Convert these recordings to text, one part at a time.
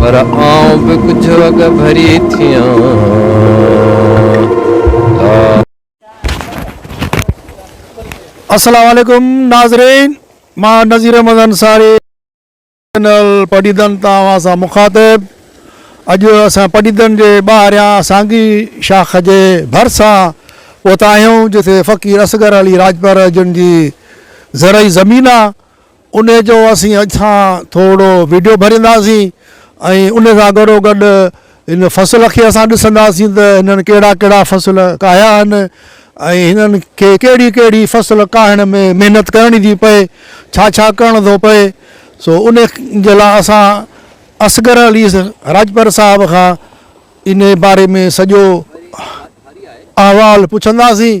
پر آئون به ڪجهه اڳ ڀري ٿيان. السلام عليڪم ناظرين مان نظير احمد انصاري. چينل پڊيدن تان اوهان سان مخاطب اڄ اسان پڊيدن جي ٻاهريان سانگي شاخ جي ڀرسان پهتا آهيون جتي فقير اصغر علي راڄپر جن جي زرعي زمين آ ان جو اسين اڄ سان ٿورڙو ويڊيو ڀرينداسين ۽ ان سان گڏو گڏ هن فصل کي اسان ڏسنداسين ته هنن ڪهڙا ڪهڙا فصل ڪاهيا آهن ۽ هنن کي ڪهڙي ڪهڙي فصل ڪاهڻ ۾ محنت ڪرڻي ٿي پئي، ڇا ڇا ڪرڻ ٿو پئي، سو ان جي لاء اسان اصغر علي راڄپر صاحب کان ان باري ۾ سڄو احوال پڇنداسين.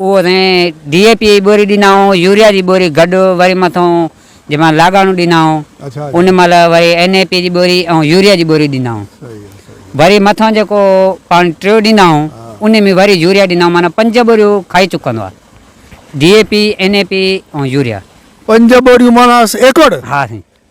اهو اسين ڊي اي پي جي ٻوري ڏنائون يوريا جي ٻوري گڏ وري مٿئون جنهن مهل لاڳاڻو ڏنائون ان مهل وري اين اي پي جي ٻوري ۽ يوريا جي ٻوري ڏنائون وري مٿئون جيڪو پاڻي ٽيو ڏنائون ان ۾ وري يوريا ڏنائون معنيٰ پنج ٻوريون کائي چڪندو آهي D A P N A P ۽ urea. پنج ٻوريون معنيٰ ايڪڙ؟ ها سائين.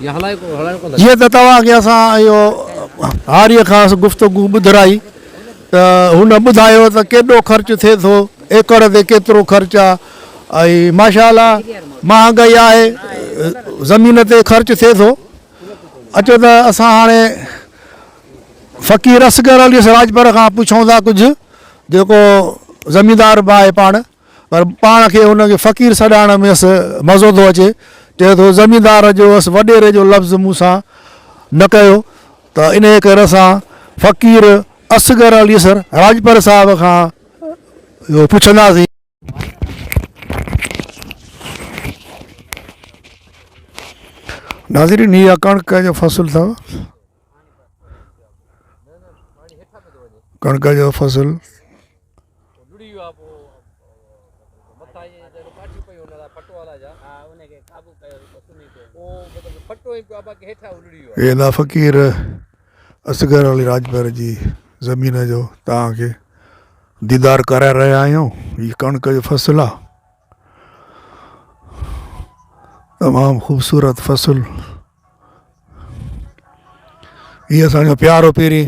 جيئن ته توهان کي اسان اهو هاريء کانئس گفتگو ٻڌرائي ته هن ٻڌايو ته ڪيڏو خرچ ٿئي ٿو، ايڪڙ تي ڪيترو خرچ آ ۽ ماشاء الله مهانگائي آهي، زمين تي خرچ ٿئي ٿو. اچو ته اسان هاڻي فقير اصغر علي راڄپر کان پڇون ٿا ڪجهه جيڪو زميندار به آهي پاڻ. پر پاڻ کي هن کي فقير سڏائڻ ۾ اس مزو ٿو اچي، چئي ٿو زميندار جو اس وڏيري جو لفظ مون سان نه ڪيو ته انهيء ڪري اسان فقير اصغر علي سر راڄپر صاحب کان اهو پڇنداسين. ناظرين هي اها ڪڻڪ جو فصل اٿو ڪڻڪ جو فصل. ادا فقير اصغر علي راڄپر جي زمين جو توهان کي ديدار ڪرائي رهيا آهيون هي ڪڻڪ جو فصل آهي تمام خوبصورت فصل هي اسان جو پيارو پيري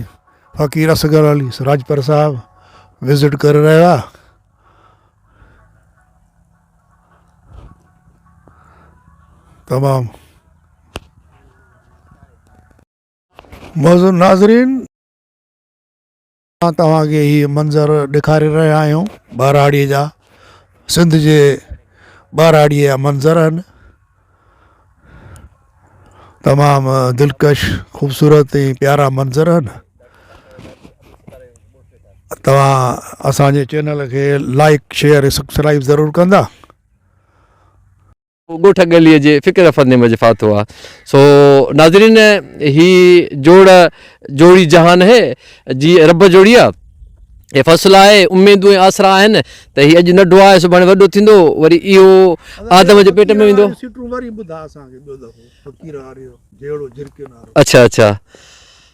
فقير اصغر علي راجپر صاحب وزٽ ڪري رهيو آهي تمام معزز ناظرين اسان توهان کي هي منظر ڏيکاري رهيا آهيون ٻهراڙي جا سنڌ جي ٻهراڙي جا منظر آهن تمام دلڪش خوبصورت ۽ پيارا منظر آهن توهان اسان جي چينل کي لائڪ شيئر سبسڪرائب ضرور ڪندا ڳوٺ ڳليء جي فڪر رفندي مجهه ڦاٿو آ. سو ناظرين هي جوڙ جوڙي جهان هي جي رب جوڙي آ. هي فصل آهي اميدون ۽ آسرا آهن ته هي اڄ نڍو آهي سڀاڻي وڏو ٿيندو وري اهو آدم جي پيٽ ۾ ويندو. اڇا اڇا.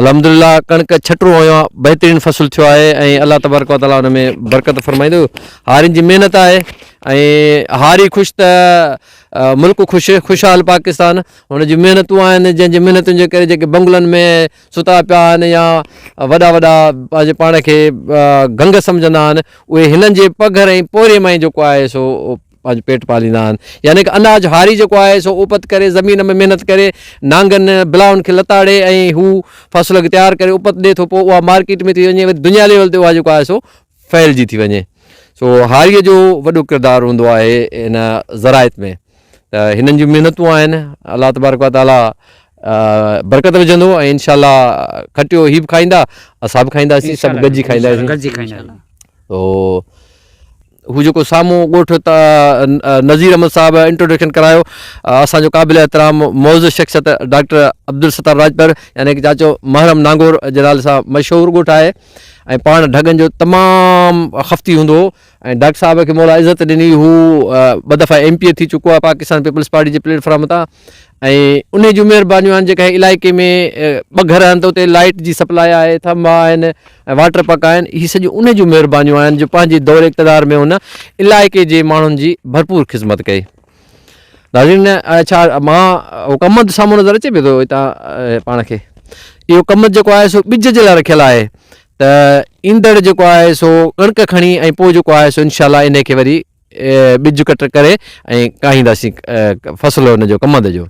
الحمدلله ڪڻڪ ڇٽرو هنيو آ بهترين فصل ٿيو آهي ۽ الله تبارڪ وتعالٰي ان ۾ برڪت فرمائيندو هارين جي محنت آهي ۽ هاري خوش ته ملڪ خوش خوشحال پاڪستان هن جي محنتون آهن جنهن جي محنتن جي ڪري جيڪي بنگلن ۾ ستا پيا آهن يا وڏا وڏا پنهنجي پاڻ کي گنگ سمجهندا آهن اهي هنن جي پگهر ۽ پورهيي مان ئي جيڪو آهي سو پنهنجو پيٽ پاليندا آهن يعني ڪه اناج هاري جيڪو آهي سو اوپت ڪري زمين ۾ محنت ڪري نانگن بلاون کي لتاڙي ۽ هو فصل کي تيار ڪري اوپت ڏي ٿو پوء اها مارڪيٽ ۾ ٿي وڃي وري دنيا ليول تي اها جيڪو آهي سو ڦهلجي ٿي وڃي سو هاري جو وڏو ڪردار هوندو آهي ان ذرائت ۾ ته هنن جون محنتون آهن الله تبارڪ و تعالی برڪت وجھندو ۽ انشاء الله کٽيو هي به کائيندا اسان به کائينداسين سڀ گڏجي کائينداسين تو هو جيڪو سامهون ڳوٺ نذير احمد صاحب انٽروڊڪشن ڪرايو اسان جو قابل احترام معزز شخصيت ڊاڪٽر عبدالستار راڄپر يعني چاچو محرم نانگور جي نالي سان مشهور ڳوٺ آهي ۽ پاڻ ڍڳن جو تمام خفتي هوندو هو ۽ ڊاڪٽر صاحب کي مولا عزت ڏني هو ٻه دفعا ايم پي اي ٿي چڪو آهي پاڪستان پيپلز پارٽي جي پليٽ فارم تان ۽ انهي جون مهربانيون آهن جيڪا هي علائقي ۾ ٻه گهر آهن ته اتي لائيٽ جي سپلاء آهي ٿنڀا آهن ۽ واٽر پڪ آهن هي سڄيون انهي جون مهربانيون آهن جو پنهنجي دور اقتدار ۾ هن علائقي جي ماڻهن جي ڀرپور خدمت ڪئي ناظرين ڇا مان هو ڪمند سامهون نظر اچي پيو ٿو هتان پاڻ کي اهو ڪمند جيڪو آهي سو ٻج جي لاء رکيل آهي ته ايندڙ جيڪو آهي سو ڪڻڪ کڻي ۽ پوء جيڪو آهي سو انشاء الله انهي کي وري ٻج ڪٽ ڪري ۽ ڪاهينداسين فصل ان جو ڪمند جو.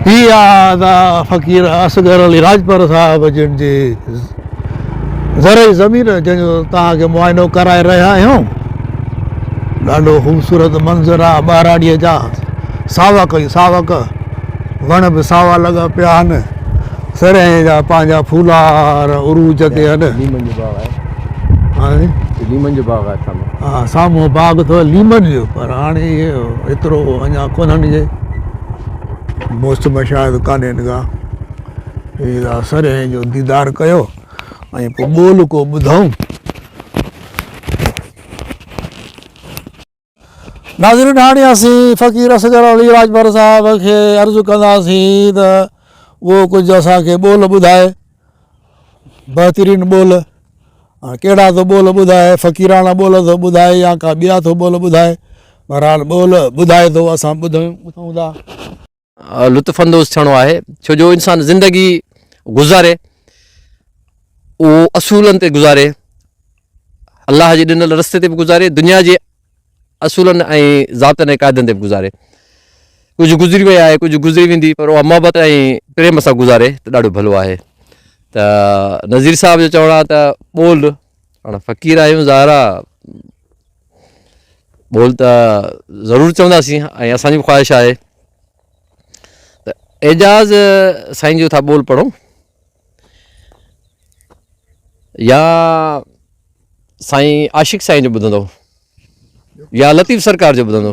هي آهن فقير اصغر علي راڄپر صاحب جن جي زرعي زمين جنهن جو توهان کي معائنو ڪرائي رهيا آهيون ڏاڍو خوبصورت منظر آهي ٻهراڙيء جا ساوڪ ئي ساوڪ وڻ به ساوا لڳا پيا آهن سرهي جا پنهنجا ڦولار عروج تي آهن ليمن جو باغ آهي ليمن جو باغ آهي ها سامهون باغ اٿو ليمن جو پر هاڻي ايترو اڃا ڪونهن جي موسم شايد ڪانهن ڪا سرهي جو ديدار ڪيو ۽ پوء ٻول ڪو ٻڌائون. ناظرين هاڻي اسين فقير اصغر علي راڄپر صاحب کي عرض ڪنداسين ته اهو ڪجهه اسان کي ٻول ٻڌائي. بهترين ٻول. هاڻي ڪهڙا ٿو ٻول ٻڌائي فقيراڻا ٻول ٿو ٻڌائي يا ڪا ٻيا ٿو ٻول ٻڌائي. بهرحال ٻول ٻڌائي ٿو اسان ٻڌون ٻڌون ٿا. لطف اندوز ٿيڻو آهي ڇو جو انسان زندگي گذاري اهو اصولن تي گذاري الله جي ڏنل رستي تي به گذاري دنيا جي اصولن ۽ ضابطن ۽ قاعدن تي به گذاري ڪجهه گذري وئي آهي ڪجهه گذري ويندي پر اها محبت ۽ پريم سان گذاري ته ڏاڍو ڀلو آهي ته نذير صاحب جو چوڻ آهي ته ٻول پاڻ فقير آهيون ظاهرا بول ته ضرور چونداسين ۽ اسان جي به خواهش آهي ته اعجاز سائين جو ٿا بول پڙھون يا سائين عاشق سائين جو ٻڌندو يا لطيف سرڪار جو ٻڌندو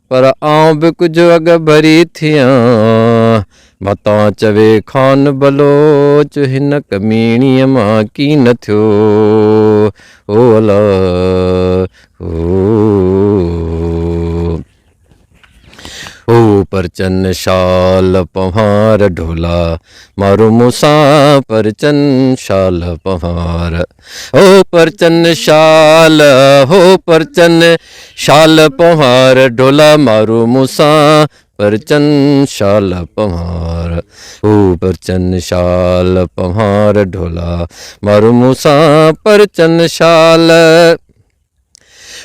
پر آئون به ڪجهه اڳڀري ٿيان، متان چوي خان بلوچ هن ڪميڻيء مان ڪين ٿيو. هو الا هو پرچن شال پنهار ڍولا، مارو مون سان پرچن شال پنهار. هو پرچن شال هو پرچن شال پنهار ڍولا مارو مون سان پرچن شال پنهار هو پرچن شال پنهار ڍولا مارو مون سان پرچن شال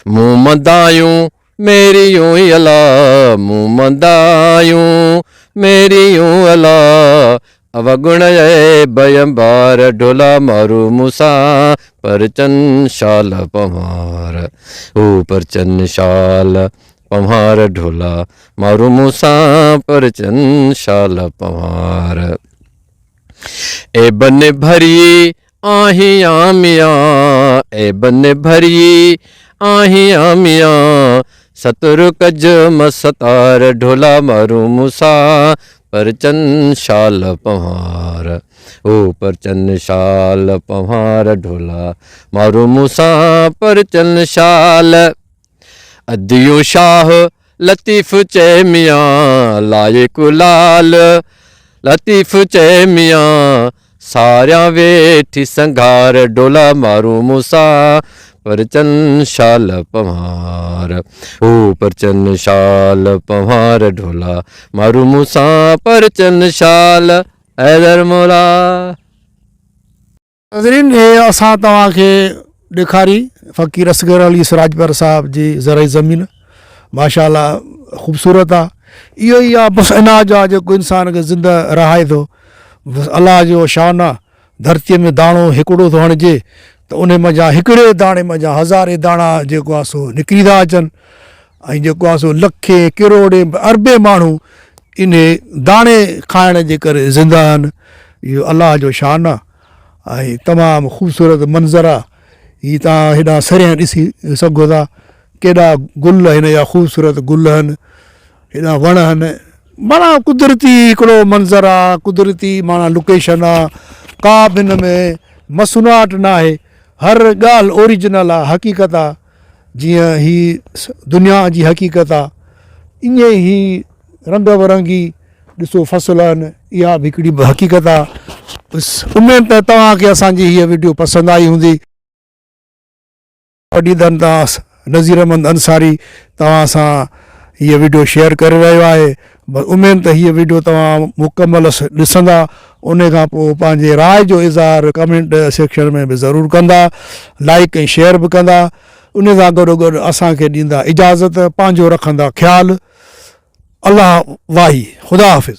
مون مدايون ميريون اي الا مون مدايون ميريون الا اوگڻ اي بيمبار ڍولا مارو مون سان پرچن شال پنهار او پرچن شال پنهار ڍولا مارو مون سان پرچن شال پنهار اي بن ڀري آهين آ ميان اي بن ڀريي آهين آ ميان ستر ڪج م ستار ڍولا مارون مون سان پرچن شال پنهار او پرچن شال پنهار ڍولا مارون مون سان پرچن شال. اديون شاهه لطيف چئي ميان لائق لال لطيف چئي ميان ساريان ويٺي سنگهار ڊولا مارون مون سان پرچن شال پنهار هو پرچن شال پنهار ڊولا مارون مون سان پرچن شال حيدر مولا ناظرين هي اسان توهان کي ڏيکاري فقير اصغر علي سراجپر صاحب جي زرعي زمين ماشاء الله خوبصورت آ اهو ئي آ بس اناج آ جيڪو انسان کي زنده رهائي ٿو بس الله جو شان آ ڌرتي ۾ داڻو هڪڙو ٿو هڻجي ته انهي منجهان هڪڙي داڻي منجهان هزارين داڻا جيڪو آ سو نڪري ٿا اچن ۽ جيڪو آ سو لکين ڪروڙين اربين ماڻهو انهي داڻي کائڻ جي ڪري زنده آهن اهو الله جو شان آ ۽ تمام خوبصورت منظر آ هي توهان هيڏانهن سريان ڏسي سگهو ٿا ڪيڏا گل هن جا خوبصورت گل هن هيڏا وڻ هن معنيٰ قدرتي هڪڙو منظر آ قدرتي معنيٰ لوڪيشن آ ڪا به هن ۾ مصنوعات ناهي هر ڳالهه اوريجنل آ حقيقت آ جيئن هي دنيا جي حقيقت آ ايئن ئي هي رنگ برنگي ڏسو فصل آهن اها به هڪڙي حقيقت آ بس اميد ته توهان کي اسان جي هيء وڊيو پسند آئي هوندي. پڊيدن تان نذير احمد انصاري توهان سان هيء وڊيو شيئر ڪري رهيو آهي بس اميد ته هيء وڊيو توهان مڪمل ڏسندا انهي کان پوء پنهنجي راء جو اظهار ڪمينٽ سيڪشن ۾ به ضرور ڪندا لائيڪ ۽ شيئر به ڪندا انهي سان گڏو گڏ اسان کي ڏيندا اجازت پنهنجو رکندا خيال الله واهي خدا حافظ.